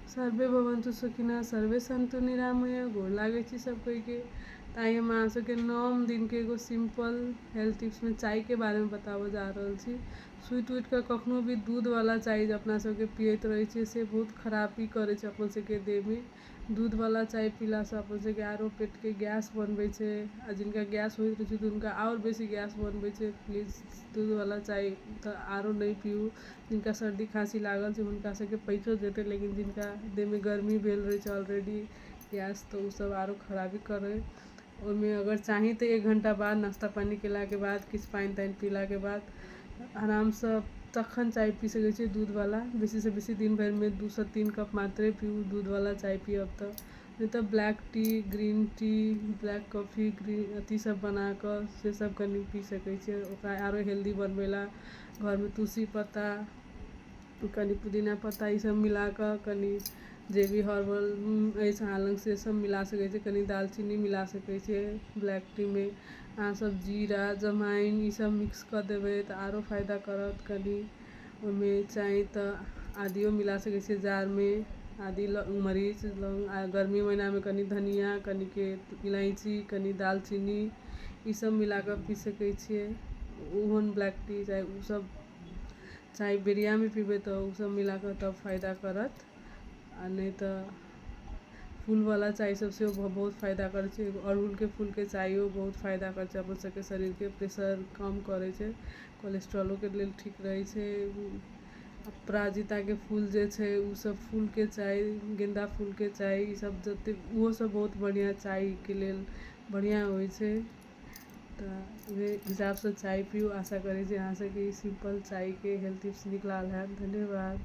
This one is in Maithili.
सर्वे भवन्तु सुखिनः सर्वे सन्तु निरामय गोर लागै छी सब कोई के तऽ आइ हम अहाँ सबके नौम दिन के एगो सिंपल हेल्थ टिप्स में चाय के बारे में बताबऽ जा रहल छी सुति उठि कऽ कखनो भी दूध वाला चाय जे अपना सबके पियैत रहै छियै से बहुत खरापी करै छै अपन सबके देह में दूध वाला चाय पीला से अपन सबके आरो पेट के गैस बनबै छै आ जिनका गैस होइत रहै छै तऽ हुनका आओर बेसी गैस बनबै छै प्लीज दूध वाला चाय तऽ आरो नहि पीयू जिनका सर्दी खाँसी लागल छै हुनका सबके पइचो जेतै लेकिन जिनका देहमे गरमी भेल रहै छै ऑलरेडी गैस तऽ ओसब आओर खराबी करै ओहिमे अगर चाही तऽ एक घण्टा बाद नाश्ता पानी कएलाके बाद किछु पानि तानि पिलाके बाद आरामसँ तखन चाइ पी सकै छिए दूधवला बेसीसँ बेसी दिनभरिमे दूसँ तीन कप मात्रे पीबू दूधवला चाइ पिअब तऽ नहि तऽ black tea green tea black coffee green अथीसब बनाकऽ सेसब कनी पी सकै छिए ओकरा आओर हेल्दी बनबैलए घरमे तुलसी पत्ता कनि पुदीना पत्ता ई सब मिला कऽ कनि जे भी हर्बल अछि अहाँ लग से सब मिला सकै छी कनि दालचीनी मिला सकै छियै ब्लैक टी मे अहाँ सब जीरा जमाइन ई सब मिक्स कऽ देबै तऽ आरो फायदा करत कनि ओहिमे चाही तऽ आदियो मिला सकै छियै जाड़ मे आदी मरीच लौंग आ गर्मी महिना मे कनि धनिया कनिके इलायची कनि दालचीनी ई सब मिलाके पी सकै छियै ओहन ब्लैक टी चाहे ओ सब चाहे बिरियानी पीबै तऽ ओ सब मिलाके तब फायदा करत आ नहि तऽ फूल बला चाय सब सेहो बहुत फायदा करै छै एगो अड़हुलके फूलके चाइयो बहुत फायदा करै छै अपन सबके शरीरके प्रेशर कम करै छै कोलेस्ट्रोलोके लेल ठीक रहै छै अपराजिताके फूल जे छै ओ सब फूलके चाय गेंदा फूलके चाय ई सब जते ओहो सब बहुत बढ़िऑं चायके लेल बढ़िआँ होइ छै तऽ ओहि हिसाबसँ चाय पीयू आशा करै छी अहाँसभके ई सिम्पल चायके हेल्थ टिप्स नीक लागल हैत धन्यवाद